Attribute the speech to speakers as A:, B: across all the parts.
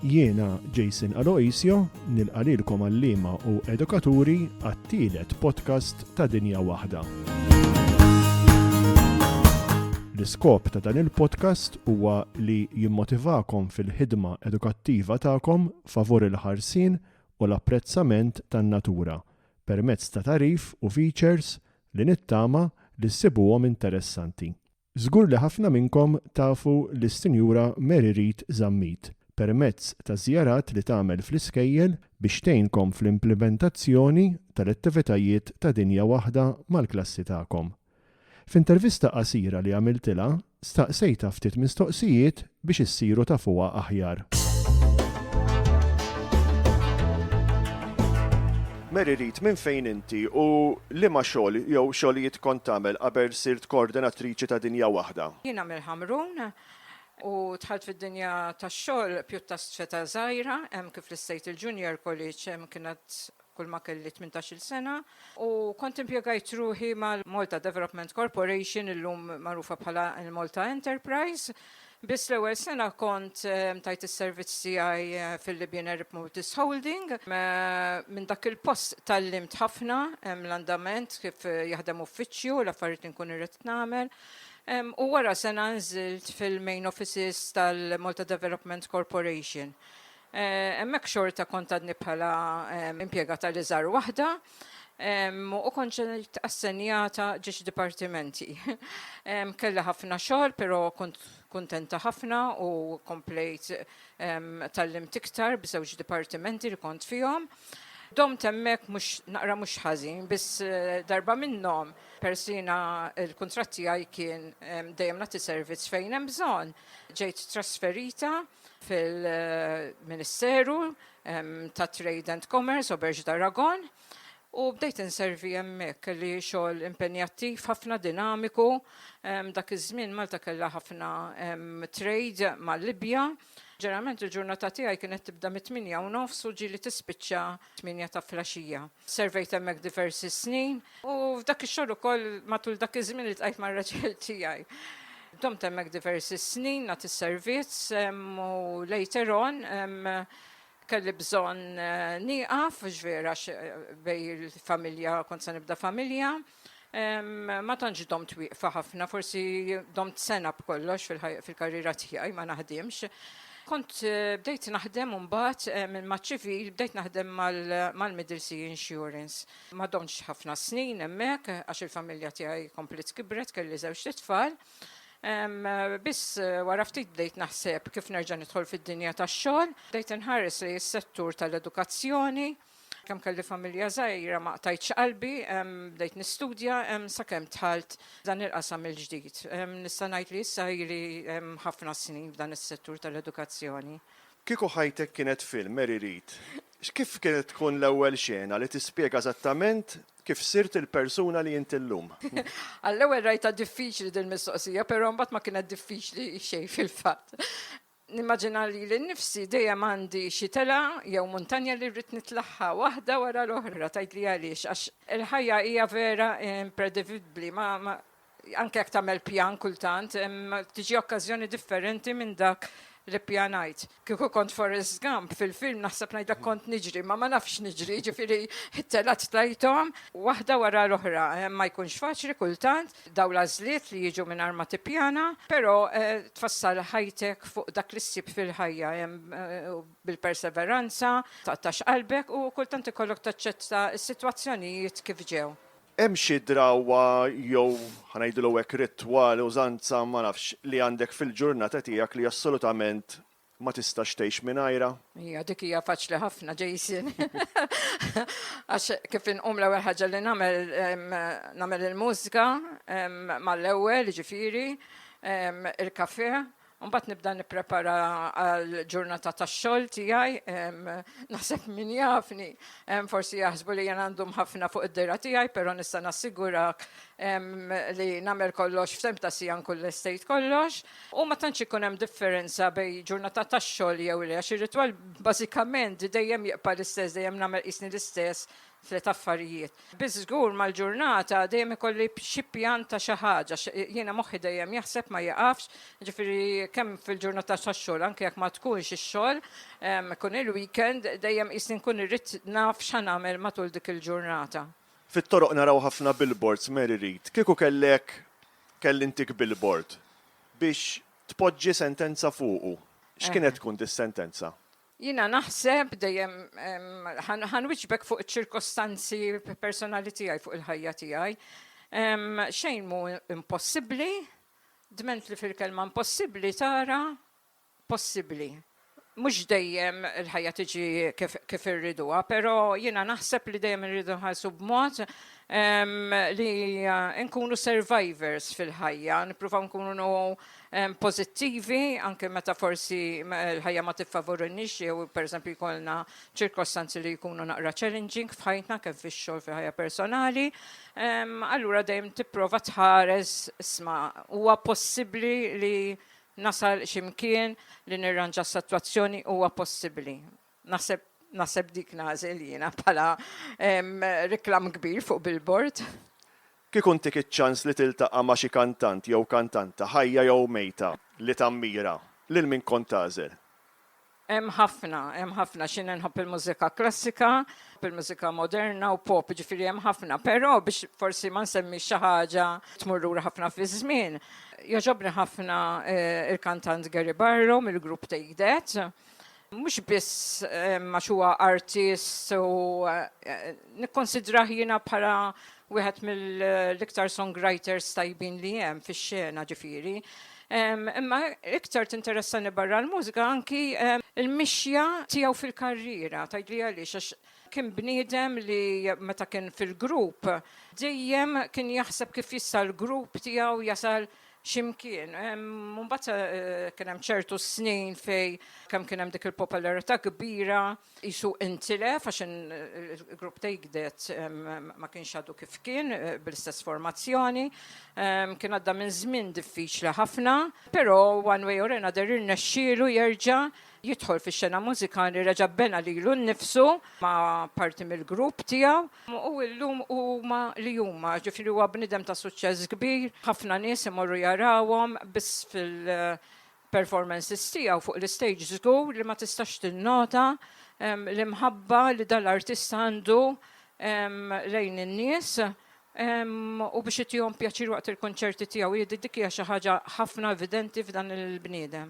A: Jiena Jason Aloisio nilqalilkom għallima u edukaturi għat-tielet podcast ta' Dinja Waħda. L-iskop ta' dan il-podcast huwa li jimmotivakom fil-ħidma edukattiva tagħkom favur il-ħarsin u l-apprezzament tan-natura permezz ta' tagħrif u features li nittama li ssibuhom interessanti. Żgur li ħafna minnkom tafu lis-Sinjura Mary Read Zammit permezz taż-żjarat li tagħmel fl-iskejjel biex tgħinkom fl-implimentazzjoni tal-attivitajiet ta' dinja waħda mal-klassi tagħkom. F'intervista qasira li għamiltilha, staqsejtha ftit mistoqsijiet biex issiru tafuha aħjar. Mary Reid, minn fejn inti u liema xogħol jew xogħlijiet kont tagħmel qabel sirt koordinatriċi ta' Dinja Waħda? Jiena mill-Ħamrun
B: u dħalt fid-dinja tax-xogħol pjuttast f'età żgħira, hemm kif listejt il-Junior College hemm kien għad kulma kelli tmintax-il sena u kont impjegajt ruħi mal-Malta Development Corporation, illum magħrufa bħala l-Malta Enterprise. Biss l-ewwel sena kont tajt is-servizz tiegħi fil-Libyan Arab Motors Holding. Minn dak il-post tgħallimt ħafna, l-andament, kif jaħdem uffiċċju, l-affarijiet li nkun irrid nagħmel. U wara sena nżilt fil-main offices tal-Malta Development Corporation. Hemmhekk xorta kont għadni bħala impjegata li żar waħda u kont ġejt assenjata ġiex dipartimenti. Kelli ħafna xogħol, però kont kuntenta ħafna u komplejt tgħallimt iktar b'żewġ dipartimenti li kont fihom. Domt hemmhekk mhux naqra mhux ħażin, biss darba minnhom peress li jiena l-kuntratt tiegħi kien dejjem nagħti servizz fejn hemm bżonn, ġejt trasferita fil-Ministeru tat-Trade and Commerce, Auberge d'Aragon, u bdejt inservi hemmhekk. Kelli xogħol impenjattiv ħafna, dinamiku. Dak iż-żmien Malta kellha ħafna trade mal-Libja. Ġeneralment il-ġurnata tiegħi kienet tibda mit-tmienja u nofs u ġieli tispiċċa t-tmienja ta' flaxija. Servejt hemmhekk diversi snin u f'dak ix-xogħol ukoll matul dak iż-żmien li tqajt mar-raġel tiegħi. Domt hemmhekk diversi snin nagħti is-servizz u later on kelli bżonn nieqaf ġvera bej il-familja kont se nibda familja. Ma tantx domt wieqfa ħafna, forsi domt sena b'kollox fil-karriera tiegħi ma naħdimx. Kont bdejt naħdem mbagħad maċ-ċivil, bdejt naħdem mal-Middle Sea Insurance. Ma domtx ħafna snin hemmhekk għax il-familja tiegħi kompliet kibret, kelli żewġt itfal. Biss wara ftit bdejt naħseb kif nerġa' nidħol fid-dinja tax-xogħol. Bdejt inħares lejn is-settur tal-edukazzjoni. Kemm kelli familja żgħira ma qtajtx qalbi, bdejt nistudja sakemm dħalt dan il-qasam il-ġdid. Nista' ngħid li issa ili ħafna snin f'dan is-settur tal-edukazzjoni. Kieku ħajtek
A: kienet film, Mary Read, kif kienet tkun l-ewwel xena li tispjega eżattament kif sirt il-persuna li int illum? Għall-ewwel
B: rajtha diffiċli dil-mistoqsija, però mbagħad ma kienet diffiċli xejn fil-fatt. Nimmaġina lili nnifsi dejjem għandi xi telgħa jew muntanja li rrid nitlagħha waħda wara l-oħra, tgħidli għaliex, għax il-ħajja hija vera impredivibbli, ma, ma, anke jekk tagħmel pjan kultant, tiġi okkażjoni differenti minn dak li ppjanajt. Kieku kont Forrest Gump fil-film naħseb ngħidlek kont niġri, imma ma nafx niġri, jiġifieri t-telgħat tajthom waħda wara l-oħra, ma jkunx faċli kultant, Dawn l-għażliet li jiġu mingħajr ma tippjana, però tfassal ħajtek fuq dak li ssib fil-ħajja bil-perseveranza, taqtax qalbek u kultant ikollok taċċetta s-sitwazzjonijiet kif ġew. Hemm xi
A: drawwa jew, ħa ngħidilha hekk, ritwal, użanza, ma nafx, li għandek fil-ġurnata tiegħek li assolutament Ma tistax tgħix mingħajrha. Hija dik hija
B: faċli ħafna Jason. Għax kif inqum l-ewwel ħaġa li nagħmel nagħmel il-mużika mal-ewwel ġifieri il-kafe Mbagħad nibda nipprepara għal ġurnata tax-xogħol tiegħi, naħseb min jafni, forsi jaħsbu li jien għandhom ħafna fuq id-dera tiegħi, però nista' nassigurak li nagħmel kollox f'temp ta' sija nkun l-estate kollox. U ma tantx ikun hemm differenza bejn ġurnata tax-xogħol jew le, għax ir-ritwal bażikament dejjem jibqa' l-istess, dejjem nagħmel qisni l-istess f'tliet affarijiet. Biss żgur mal-ġurnata dejjem ikolli xi pjan ta' xi ħaġa, jiena moħħi dejjem jaħseb ma jieqafx, jiġifieri kemm fil-ġurnata tax-xogħol anke jekk ma tkunx ix-xogħol, ikun il-weekend, dejjem qisni nkun irrid naf x'ħa nagħmel matul dik il-ġurnata. Fit-toroq naraw
A: ħafna billboards, Mary Read, kieku kellek Kellimtik bil-bord biex tpoġġi sentenza fuqu. X'kienet tkun dis-sentenza? Jiena
B: naħseb dejjem, ħa nwieġbek fuq iċ-ċirkostanzi personali tiegħi fuq il-ħajja tiegħi. Xejn mhu impossibbli, dment li fil-kelma impossibbli tara possibbli. Mhux dejjem il-ħajja tiġi kif, kif irriduha, però jiena naħseb li dejjem irridu nħarsu b'mod ehm, li eh, nkunu survivors fil-ħajja, nippruvaw nkunu ehm, pożittivi anke meta forsi l-ħajja ma tiffavorunix jew pereżempju jkollna ċirkostanzi li jkunu naqra challenging f'ħajtna kif fix-xogħol fil-ħajja personali. Ehm, allura dejjem tipprova tħares isma' huwa possibbli li Nasal xi mkien li nirranġa s-sitwazzjoni huwa possibbli. Naħseb naħseb dik nagħżel jiena bħala reklam kbir fuq billboard. Kieku
A: ntik iċ-ċans li tiltaqa' ma' xi kantant jew kantanta, ħajja jew mejta, li tammira, lil min kont tagħżel? Hemm
B: ħafna, hemm ħafna xi nħobb il-mużika klassika, il-mużika moderna u pop, jiġifieri hemm ħafna, però biex forsi ma nsemmix xi ħaġa tmur lura ħafna fiż-żmien, jogħġobni ħafna l-kantant Gary Barlow mill-grupp Take That. Mhux biss għax huwa artist u nikkunsidrah jiena bħala Wieħed mill-iktar songwriters tajbin li hemm fix-xena ġifieri. Imma iktar tinteressani barra l-mużika anki l-mixja tiegħu fil-karriera, tgħidli għaliex għax kien bniedem li meta kien fil-grupp dejjem kien jaħseb kif jista' l-grupp tiegħu jasal xi mkien. Imbagħad kien hemm ċertu snin fejn kemm kien hemm dik il-popolarità kbira Tqisu intilef għax il-grupp ta' Igdet ma kienx għadu kif kien bl-istess formazzjoni. Kien għadda minn żmien diffiċli ħafna, però one way or another irnexxielu jerġa' jidħol fix-xena mużikali, reġa' bena lilu nnifsu ma' parti mill-grupp tiegħu u llum huma li huma. Ġifieri huwa bniedem ta' suċċess kbir, ħafna nies imorru jarawhom biss fil- performances tiegħu fuq l-istage żgur li ma tistax tinnota l-imħabba li dan l-artista għandu lejn in-nies u biex itihom pjaċir waqt il-kunċerti tiegħu. Jidhi dik hija xi ħaġa ħafna evidenti f'dan il-bniedem.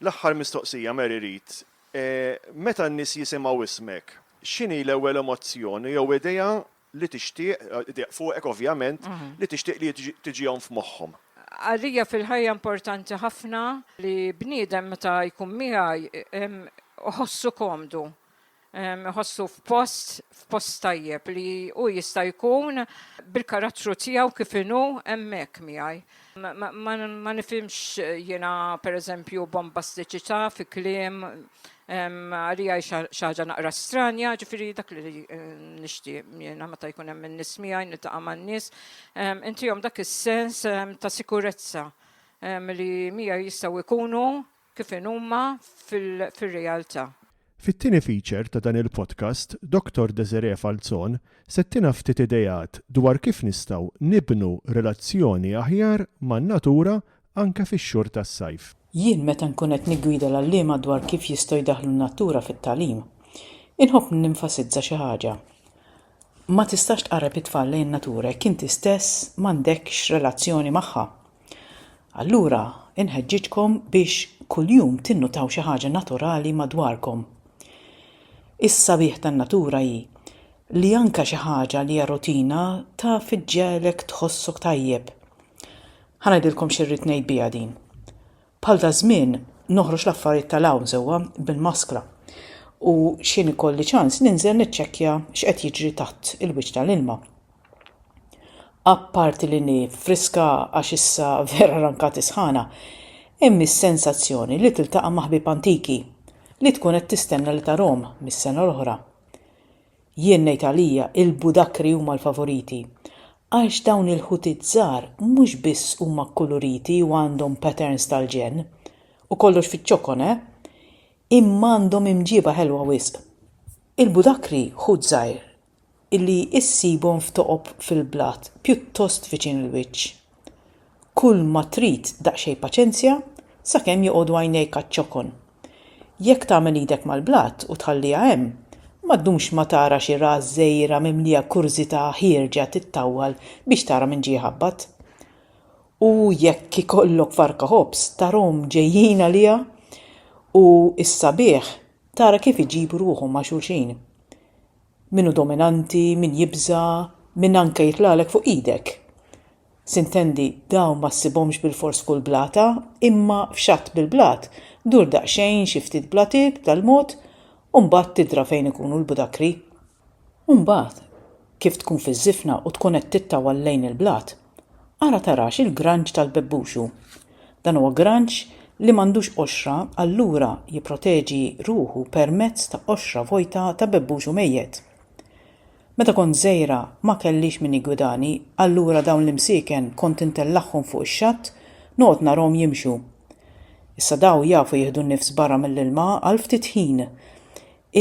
A: L-aħħar mistoqsija, Mary Read. Meta n-nies jisimgħu ismek, x'inhi l-ewwel emozzjon jew idea li tixtieq, iddeqq fuqek ovvjament, li tixtieq li tiġihom f'moħħhom. Għalija
B: fil-ħajja importanti ħafna li bniedem meta jkun miegħi iħossu komdu, iħossu f'post, f'post tajjeb li hu jista' jkun bil-karattru tiegħu kif inhu hemmhekk miegħi. Ma nifhimx jiena pereżempju bombastiċità fi kliem, Għalija xi ħaġa naqra stranja, ġifieri dak li nixtieq jiena meta jkun hemm in-nies miegħi niltaqa' man-nies, intihom dak is-sens ta' sikurezza li miegħi jistgħu jkunu kif inhuma fir-realtà. Fit-tieni
A: feature ta' dan il-podcast, Doctor Desiree Falzon se ttina ftit ideat dwar kif nistgħu nibnu relazzjoni aħjar man-natura anke fix-xhur tas-sajf. Jien meta nkun
C: qed niggwida l-għalliema dwar kif jistgħu jdaħħlu n-natura fit-tagħlim, inħobb nenfasizza xi ħaġa, ma tistax tqarreb it-tfal lejn in-natura jekk inti stess m'għandekx relazzjoni magħha. Allura inħeġġiġkom biex kuljum tinnutaw xi ħaġa naturali madwarkom. Is-sabiħ tan-natura hi li anke xi ħaġa li hija rutina taf iġġegħlek tħossok tajjeb. Ħa ngħidilkom xi rrid ngħid biha din. Bħal daż-żmien noħroġ l-affarijiet tal-hawn sewwa bil-maskra u x'ħin ikolli ċans ninżel niċċekkja x'qed jiġri taħt il-wiċċ tal-ilma. Apparti li ni friska għax issa vera rankat is-sħana, hemm is-sensazzjoni li tiltaqa' ma' ħbieb antiki li tkun qed tistenna li tarahom mis-sena l-oħra. Jien ngħid għalija il-budakri huma l-favoriti għax dawn il-ħutiet żgħar mhux biss huma kkuluriti u għandhom patterns tal-ġenn, u kollox fiċ-ċokon eh, imma għandhom imġieba ħelwa wisq. Il-budakri ħut żgħir li issibhom f'toqob fil-blat pjuttost viċin il-wiċċ Kull ma trid daqsxejn paċenzja sakemm joqogħdu għajnejk għaċ-ċokon. Jekk tagħmel idek mal-blat u tħalliha hemm, ma ddumx ma tara xi ras żgħira mimlija kurżità ħierġa tittawwal biex tara min ġie jħabbat. U jekk ikollok farka ħobż tarahom ġejjin għaliha u s-sabiħ tara kif iġibu ruħhom ma' xulxin. Min hu dominanti, min jibża', min anke jitlagħlek fuq idek. Sintendi, dawn ma ssibhomx bilfors f'kull blata, imma f'xatt bil-blat, dur daqsxejn xi ftit blatiet b'tal mod, u mbagħad tidra fejn ikunu l-budakri. U mbagħad, kif tkun fiż-żifna u tkun qed tittawal lejn il-blat, Ara tarax il-granġ tal-bebbux hu. Dan huwa granġ li m'għandux qoxra allura jipproteġi ruħu permezz ta' qoxra vojta ta' bebbuxu mejjet. Meta kont żgħira ma kellix min jiggwidani allura dawn l-imsieken kont intellagħhom fuq ix-xatt noqgħod narahom jimxu. Issa daw jafu jieħdu n-nifs barra mill-ilma għal ftit ħin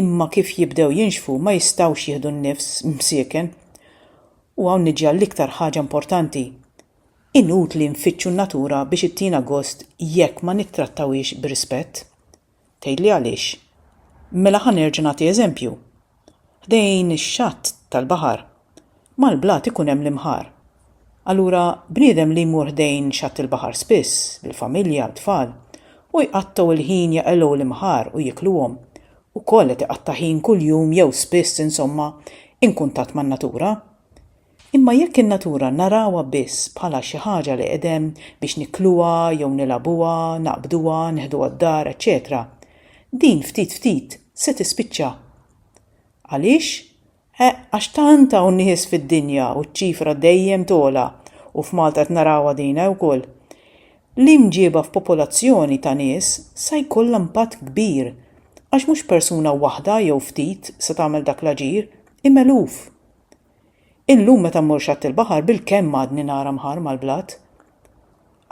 C: imma kif jibdew jinxfu ma jistgħux jieħdu n-nifs msieken U hawn niġi għall-iktar ħaġa importanti, inutli nfittxu n-natura biex ittina gost jekk ma nittrattawhiex b'rispett. Tgħidli għaliex? Mela ħa nerġa' nagħti eżempju. Ħdejn ix-xatt tal-baħar, mal-blat ikun hemm l-imħar. Allura bniedem li jmur ħdejn xatt il-baħar spiss, bil-familja, t-tfal, u jqattgħu l-ħin jaqilgħu l-imħar u jikluhom, ukoll qed iqatta' ħin kuljum jew spiss insomma inkuntatt man-natura. Imma jekk in-natura narawha biss bħala xi ħaġa li qed hemm biex nikluha jew nilagħbuha, naqbduha, neħduha d-dar, eċċetera, din ftit ftit se tispiċċa. Għaliex? Eh, għax tant hawn nies fid-dinja u ċ-ċifra dejjem togħla u f'Malta qed narawha din eh ukoll. L-imġieba f'popolazzjoni ta' nies sa jkollha impatt kbir għax mhux persuna waħda jew ftit se tagħmel dak l-aġir, imma eluf. Illum meta mmur xatt il-baħar bilkemm għadni nara mħarr mal-blat.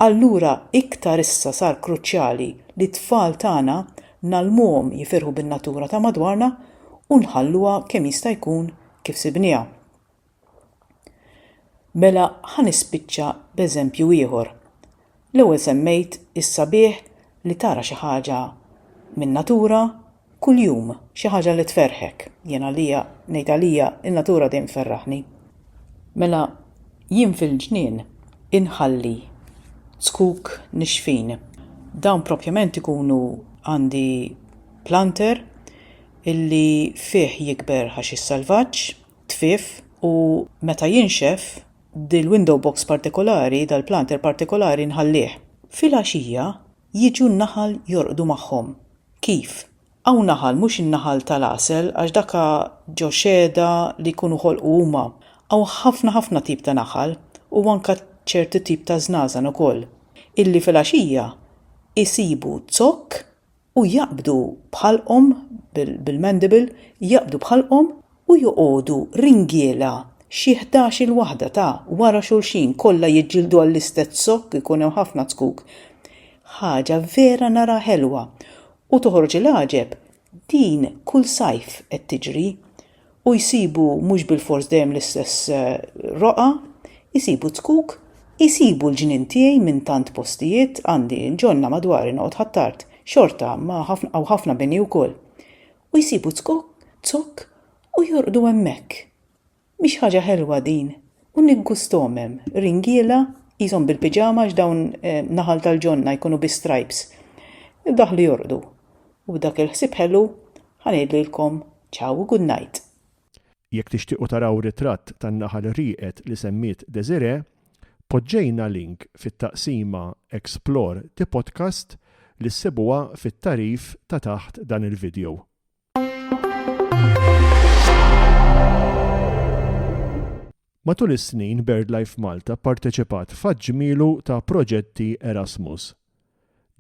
C: Allura iktar issa sar kruċjali li t-tfal tagħna ngħallmuhom jifirħu bin-natura ta' madwarna u nħalluha kemm jista' jkun kif sibnieha. Mela ħa nispiċċa b'eżempju ieħor. L-ewwel semmejt is-sabiħ li tara xi ħaġa min-natura Kuljum xi ħaġa li tferrħek. Jien għalija, ngħid għalija, in-natura dejjem tferraħni. Mela jien fil-ġnien inħalli zkuk nixfin. Dawn propjament ikunu għandi planter illi fih jikber ħaxix salvaġġ, tfif, u meta jinxef, dil-window box partikolari, dal-planter partikolari nħallih. Filgħaxija Jiġu n-naħal jorqdu magħhom. Kif? Hawn naħal, mhux in-naħal tal-għasel għax dak a ġo xehda li jkunu ħolqu huma. Hawn ħafna ħafna tip ta' naħal u anka ċertu tip ta' żnażan ukoll illi filgħaxija isibu zokk u jaqbdu b'ħalqhom bil-mandible jaqbdu b'ħalqhom u joqogħdu ringiela xi ħdax-il waħda ta' wara xulxin kollha jiġġieldu għall-istess zokk ikun hemm ħafna zkuk. Ħaġa vera naraha ħelwa u toħroġ il-għaġeb din kull sajf qed tiġri u jsibu mhux bilfors dejjem l-istess eh, roqgħa, isibu zkuk, isibu l-ġnien tiegħi minn tant postijiet għandi ġonna madwari noqgħod ħattart, xorta ma' ħafna u ħafna bini wkoll. u jsibu zkokk, zokk u jorqdu hemmhekk. Mhix ħaġa ħelwa din u niggusthom hemm ringiela qishom bil-piġama għax dawn naħal tal-ġonna jkunu bi stripes. Daħlu jorqdu. U b'dak il-ħsieb ħelu ħa ngħidlilkom ciao u good night. Jekk
A: tixtiequ taraw ritratt tan-naħal rieqed li semmiet Desiree, Poġġejna link fit-taqsima Explore the Podcast li ssibuha fit-tagħrif ta' taħt dan il-vidjow. Matul is-snin BirdLife Malta pparteċipat f'għadd ġmielu ta' proġetti Erasmus.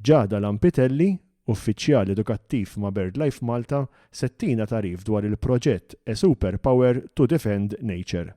A: Ghada Lampitelli, Uffiċjal Edukattiv ma' BirdLife Malta se ttina tagħrif dwar il-proġett A Superpower to Defend Nature.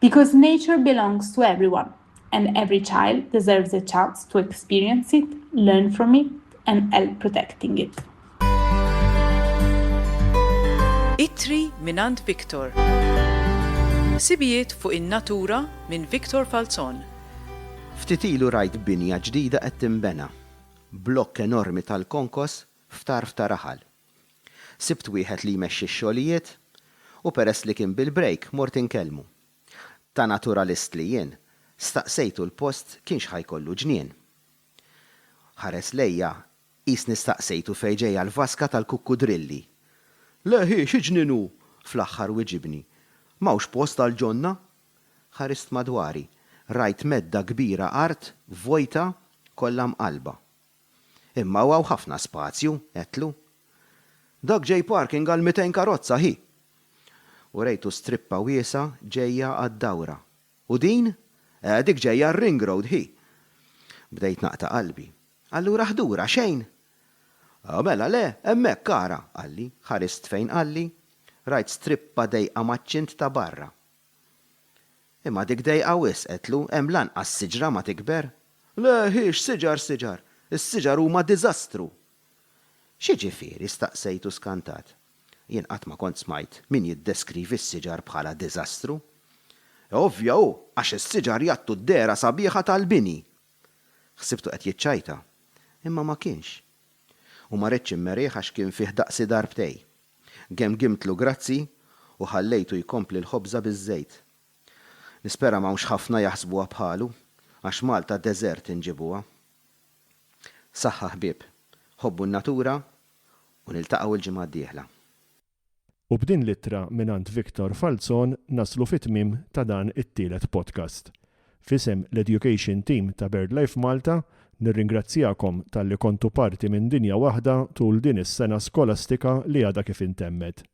D: Because nature belongs to everyone and every child deserves a chance to experience it, learn from it and help protecting it.
C: Ittri mingħand Victor. Sibijiet fuq in-natura minn Victor Falzon. Ftit
E: ilu rajt binja ġdida qed tinbena. Blokk enormi tal-konkos f'tarf ta' raħal. Sibt wieħed li jmexxi x-xogħlijiet u peress li kien bil-brejk mort inkellmu. Ta' naturalist li jien, staqsejtu l-post kienx ħa jkollu ġnien. Ħares lejja qisni staqsejtu fejn ġejja l-vaska tal-kukkudrilli. Le hi, xi ġnien hu! fl-aħħar wiġibni. M'hawnx post għal ġonna? Ħarist madwari. Rajt medda kbira art vojta kollha mqallba. Imma hawn ħafna spazju, għedtlu. Dak ġej parking għal mitejn karozza, ħi! Urejtu strippa wiesgħa ġejja għad-dawra. U din? Eh, dik ġejja għar-ring road, ħi! Bdejt naqta' qalbi. Allura ħdura, xejn? Oh, mela le, hemmhekk ara, qalli. Ħarist fejn qalli. Rajt strippa dejqa maċ-ċint ta' barra. Imma dik dejqa wisq, għedtlu, hemm l-anqas siġra ma tikber. Le, hi x'siġar siġar! Is-siġar huma diżastru! X'jiġifieri? staqsejtu skantat. Jien qatt ma kont smajt min jiddeskrivi s-siġar bħala diżastru. E ovvja hu, għax is-siġar jagħttu d-dehra sabiħa tal-bini! Ħsibtu qed jiċċajta, imma ma kienx. U ma ridtx immerih għax kien fih daqsi darbtej. Gemgimtlu grazzi u ħallejtu jkompli l-ħobża biż-żejt. Nispera m'hawnx ħafna jaħsbuha bħalu, għax Malta deżert inġibuha. Saħħa ħbieb, ħobbu n-natura u niltaqgħu l-ġimgħa d-dieħla.
A: U b'din l-ittra mingħand Victor Falzon naslu fit-tmiem ta' dan it-tielet podcast. F'isem l-Education Team ta' BirdLife Malta, nirringrazzjakom talli kontu parti minn dinja waħda tul din is-sena skolastika li għadha kif intemmet.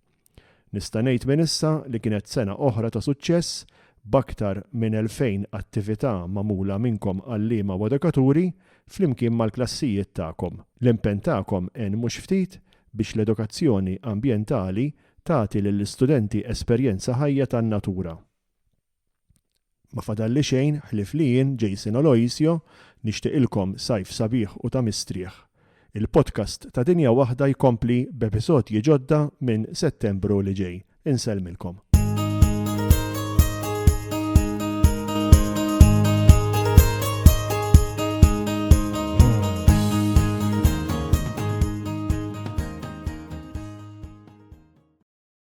A: Nista' ngħid minn issa li kienet sena oħra ta' suċċess b'aktar minn 2,000 attività magħmula minnkom għalliema u edukaturi flimkien mal-klassijiet tagħkom. L-impenn tagħkom għen mhux ftit biex l-edukazzjoni ambjentali tagħti lill-istudenti esperjenza ħajja tan-natura. Ma fadalli xejn ħlief li jien, Jason Oloisio, nixtieqilkom sajf sabiħ u ta' mistrieħ. Il-podcast ta' Dinja Waħda jkompli b'episodji ġodda minn Settembru li ġej. Insellmilkom.